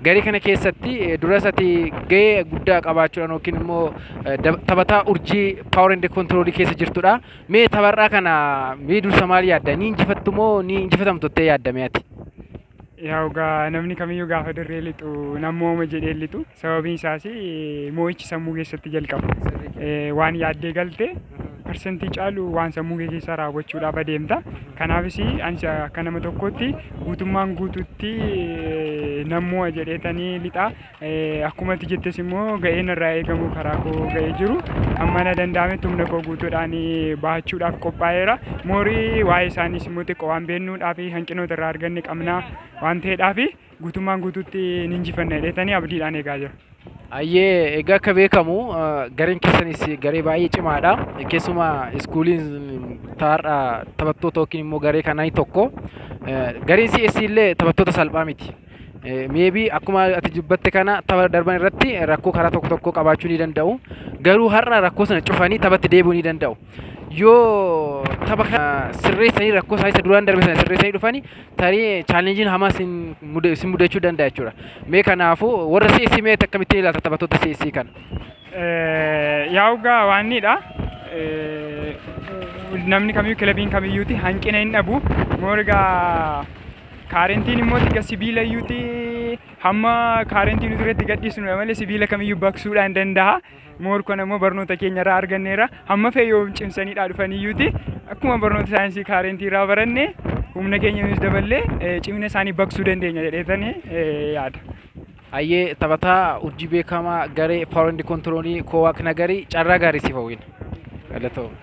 Garee kana keessatti duras ati gahee guddaa qabaachuudhaan yookiin immoo taphataa urjii power and control keessa jirtudha. Mee tapharraa kana mee dursa maal yaadda? Ni injifattu moo ni injifatamtu jettee yaadda mee ati? Yaa egaa namni kamiyyuu gaafa dirree lixu nan mo'ama jedhee lixu sababiin isaas mo'ichi sammuu keessatti jalqaba. Waan yaaddee galte parsantii caalu waan sammuu kee keessaa raawwachuudhaaf adeemta. Kanaafis ani akka nama tokkootti guutummaan guutuutti nan mo'a jedheetanii lixa. Akkuma ati jettes immoo ga'een irraa eegamu karaa koo ga'ee jiru. Amma na danda'ametti humna koo guutuudhaan bahachuudhaaf qophaa'eera. Moorii waa'ee isaaniis immoo xiqqoo waan beeknuudhaaf hanqinoota irraa arganne qabna waan ta'eedhaaf. guutummaan guutuutti ni injifanna jedheetanii abdiidhaan eegaa jira. Ayyee egaa akka beekamu gareen keessanis garee baay'ee cimaadha. Keessumaa iskuuliin taar'a taphattoota yookiin immoo garee kanaa tokko. Gareen CS illee taphattoota salphaa miti. Meebii akkuma ati dubbatte kana tapha darban irratti rakkoo karaa tokko tokkoo qabaachuu ni danda'u. Garuu har'a rakkoo sana cufanii taphatti deebi'uu ni danda'u. yoo tapha kana sirreessanii rakkoo isaa isa duraan darbe sana sirreessanii dhufanii tarii chaalenjiin hamaa isin muda- isin mudachuu danda'a jechuudha. Mee kanaafuu warra CSC mee akkamittiin ilaalta taphattoota CSC kana? Eh, yaa'u gaa waanniidha. Eh, namni kamiyyuu kilabiin kamiyyuuti hanqina hin dhabu. Moor egaa kaarentiin immoo tiga sibiila iyyuuti hamma kaarentiin uturetti gadhiisnu malee sibiila kamiyyuu baqsuudhaan danda'a. moor kan ammoo barnoota keenya irraa arganneera hamma fee yoo cimsaniidhaa dhufaniyyuuti akkuma barnoota saayinsii kaarentii irraa baranne humna keenya nuus daballee eh, cimina isaanii baqsuu dandeenya jedheetanii eh, yaada. Ayyee taphataa urjii beekamaa garee paawundi kontiroolii koowaak nagarii carraa gaarii siif hawwina. Galatoomi.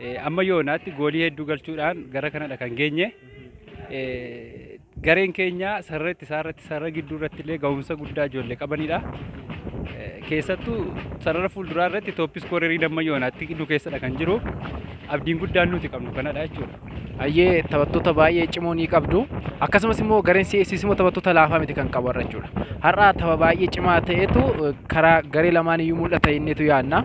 Eh, Amma yoonaatti goolii hedduu galchuudhaan gara kanadha kan geenye. Eh, Gareen keenya sarara ittisaa irratti sarara gidduu irratti illee gahumsa guddaa ijoollee qabanidha. Eh, Keessattuu sarara fuulduraa irratti tooppis koorerii damma yoonaatti nu keessadha kan jiru. Abdiin guddaan nuti qabnu kanadha jechuudha. Ayyee taphattoota baay'ee cimoo ni qabdu. Akkasumas immoo gareen CSC immoo taphattoota laafaa miti kan qabu har'a jechuudha. Har'a tapha baay'ee cimaa ta'etu eh, karaa garee lamaan iyyuu mul'ata jenneetu yaadna.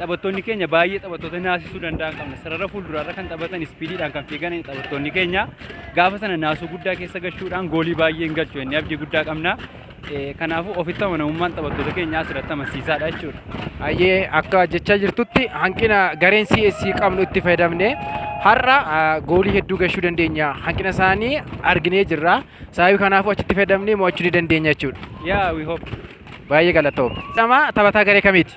Taphattoonni keenya baay'ee taphattoota naasisuu danda'an qabna. Sarara fuulduraarra kan taphatan ispiidiidhaan kan fiigan taphattoonni keenya gaafa sana naasuu guddaa keessa galchuudhaan goolii baay'ee hin galchu jennee abdii guddaa qabna. Eh, Kanaafuu ofitti amanamummaan taphattoota keenyaa asirratti amansiisaadha jechuudha. Ayyee akka jechaa jirtutti hanqina gareen CS qabnu itti fayyadamne har'a ah, goolii hedduu galchuu dandeenya. Hanqina isaanii arginee jirra. Sababii kanaafuu achitti fayyadamnee mo'achuu ni dandeenya jechuudha. Yeah, we hope. Baay'ee galatoom. Nama taphataa garee kamiiti?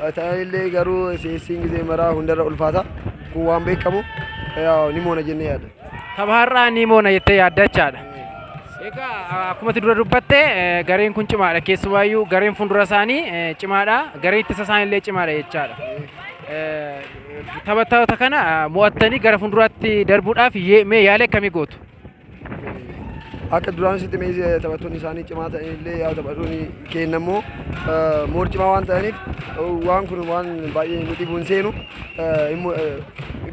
Haa ta'anillee garuu CSC'n gizee maraa hundarra ulfaata. Kun waan beekamu yaa, ni moona jennee yaadna. Tapha har'aa ni moona jettee yaadda jechaadha. Egaa akkuma ati dura dubbatte eh, gareen kun cimaadha keessumaayyuu gareen fuuldura isaanii eh, cimaadha gareen ittisa isaaniillee cimaadha jechaadha. Eh, Taphattoota kana eh, mo'attanii gara fuulduraatti darbuudhaaf yee- mee yaala akkamii gootu? Akka duraan sitti meesee taphattoonni isaanii cimaa ta'an illee yaa taphattoonni keenya immoo moor cimaa waan ta'aniif waan kun waan baay'ee nu dhibuun seenu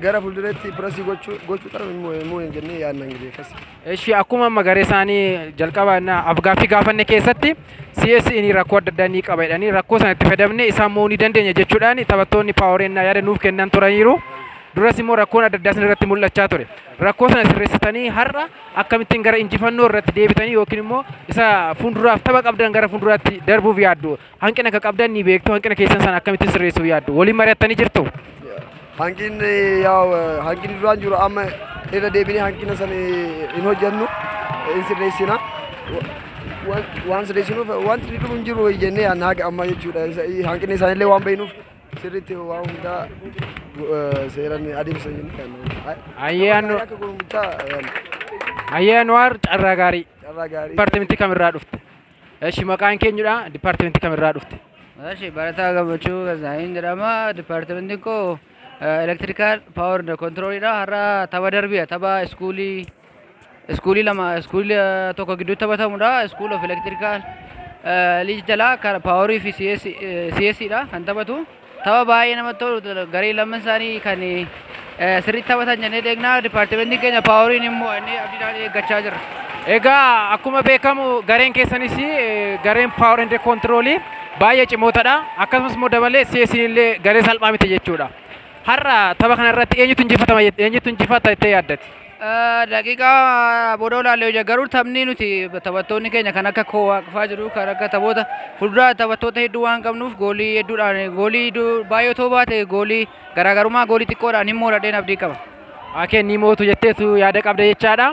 gara fuulduratti pirasii gochuu qabu immoo hin jennee yaadna hin beekas. Eshi akkuma amma garee isaanii jalqaba afgaaffii gaafanne keessatti CSI ni rakkoo adda addaa ni qaba jedhanii rakkoo sana itti fayyadamne isaan mo'uu ni dandeenya jechuudhaan taphattoonni paaworeennaa yaada nuuf kennan turaniiru. Duras immoo rakkoon adda addaa isin irratti mul'achaa ture. Rakkoo sana sirreessitanii har'a akkamittiin gara injifannoo irratti deebitanii yookiin immoo isa fuulduraaf tapha qabdan gara fuulduraatti darbuuf yaaddu? Hanqina akka qabdan ni beektu, hanqina keessan sana akkamittiin sirreessuuf yaaddu? Waliin mari'attanii jirtu? Hanqinni yaa'u hanqinni duraan jiru amma irra deebinee hanqina sana hin hojjennu hin sirreessina. Waan sirreessinuuf wanti dhumu hin jiru jennee yaadna haga ammaa jechuudha. Hanqinni isaanillee waan beeknuuf. Sirriitti waa hundaa eh, seeran adeemsa hin kennu. Ayyee annu Akka gurmuchaa eh, Ayyee Anwaar carraa gaarii. carraa gaarii. Dipaartimentii kamirraa dhufte? Eshi maqaan keenyudha. Dipaartimentii kamirraa dhufte? Eshi barataa gammachuu Gazaayin jedhama. Dipaartimentiin koo elektirikaal paawar kontiroolidha. Har'a tapha darbiidha. Tapha iskuulii iskuulii lama iskuulii eh, tokko gidduu taphatamudha iskuul of elektirikaal liij jalaa kara paaworii fi CS dha kan taphatu tapha baay'ee namatti tolu garee lamman isaanii kan eh, sirriitti taphatan jennee deegnaa dipaartimentiin keenya paaworiin immoo inni abdiidhaan eeggachaa jirra. Egaa akkuma beekamu gareen keessanis eh, gareen power and control baay'ee cimootadha. Akkasumas immoo dabalee CS illee garee salphaa miti jechuudha. Har'a tapha kana irratti eenyutu injifata eenyutu injifata jettee yaaddati? Daqiiqaa booda olaallee hojja garuu taphni nuti taphattoonni keenya kan akka koo waaqfaa jiru kan akka taphoota fuulduraa taphattoota hedduu waan qabnuuf goolii hedduudhaan goolii baay'ee otoo baate goolii garaagarummaa goolii xiqqoodhaan hin mooradheen abdii qaba. Akeen ni mootu jetteetu yaada qabda jechaadha.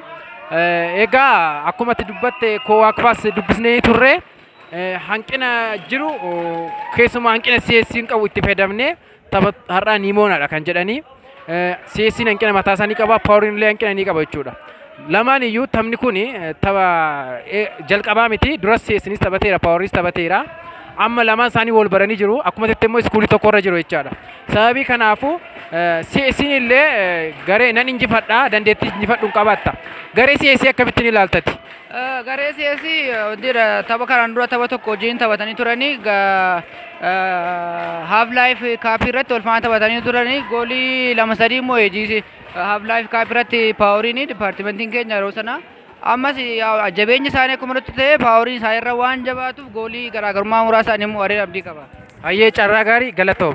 Egaa akkuma itti dubbatte koo waaqfaas dubbisnee turre hanqina jiru keessumaa hanqina si'eessiin qabu itti fayyadamnee tapha har'aa ni moonadha kan jedhanii si'eessiin hanqina mataa isaa ni qaba paawuriin illee hanqina ni qaba jechuudha. Lamaan iyyuu taphni kun tapha jalqabaa miti duras si'eessiinis taphateera paawuriinis taphateera. Amma lamaan isaanii wal baranii jiru akkuma jettee immoo iskuulii tokko irra jiru jechaadha. Sababii kanaafuu si'eessiin illee garee nan injifadha dandeettii injifadhu hin qabatta. Garee si'eessii akkamittiin ilaaltati? Garee CS dira tapha kanaan dura tapha tokko wajjin taphatanii turanii haaf laayif kaapii irratti wal faana taphatanii turanii goolii lama sadii immoo eejiisi haaf laayif kaapii irratti paaworiin dipaartimentiin keenya yeroo sana ammas jabeenyi isaanii akkuma nutti ta'e paaworiin isaa irra waan jabaatuuf goolii garaagarummaa muraasaan immoo wareen abdii qaba. Hayyee carraa gaarii galatoom.